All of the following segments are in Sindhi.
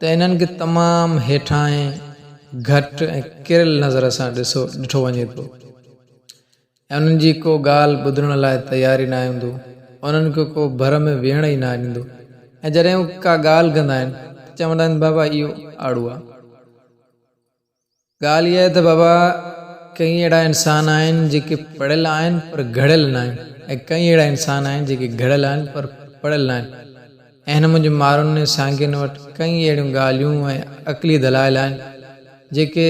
ته انهن کي تمام هيٺاهين، گهٽ ۽ ڪريل نظر سان ڏٺو وڃي ٿو ۽ انهن جي ڪو ڳالهه ٻڌڻ لاء تيار ئي ناهي هوندو، انهن کي ڪو ڀر ۾ ويهڻ ئي ناهي ڏيندو ۽ جڏهن هو ڪا ڳالهه ڪندا آهن ته چوندا آهن بابا اهو آڙو آ. ڳالهه اها آهي ته بابا ڪئين اهڙا انسان آهن جيڪي پڙهيل آهن پر گهڙيل نه آهن ۽ ڪئين اهڙا انسان آهن جيڪي گهڙيل آهن پر پڙهيل نه آهن ۽ هن منهنجي مارون ۽ سانگين وٽ ڪئين اهڙيون ڳالهيون ۽ عقلي دلائل آهن جيڪي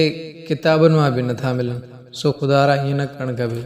ڪتابن مان به نه ٿا ملن سو خدارا ائين نه ڪرڻ کپي.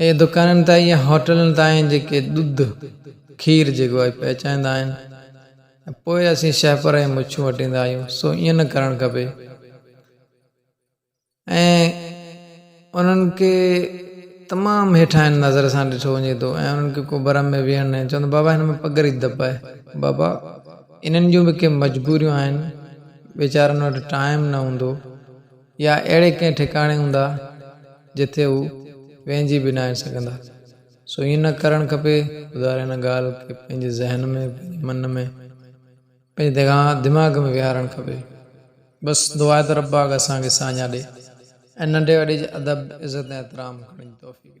اهي دڪانن تان يا هوٽلن تائين جيڪي ڏڌ، کير جيڪو آهي، پهچائيندا آهن ۽ پوء اسين شهپر ۽ مڇون وٽيندا آهيون، سو ائين نه ڪرڻ کپي ۽ انهن کي تمام هيٺاهين نظر سان ڏٺو وڃي ٿو ۽ انهن کي ڪو برم ۾ ويهڻ ناهي چوندو بابا هن ۾ پگهر ئي دٻ آهي، بابا انهن جون به ڪي مجبوريون آهن، ويچارن وٽ ٽائيم نه هوندو. يا اهڙي ڪنهن ٺڪاڻي هوندا جتي هو ويهجي به ناهن سگهندا. سو ائين نه ڪرڻ کپي. خدا ري هن ڳالهه کي پنهنجي ذهن ۾، پنهنجي من ۾، پنهنجي دماغ ۾ ويهارڻ کپي. بس دعا آهي ته رب پاڪ اسان کي ساڃاهه ڏي ۽ ننڍي وڏي جي ادب، عزت ۽ احترام ڪرڻ جي توفيق ڏي.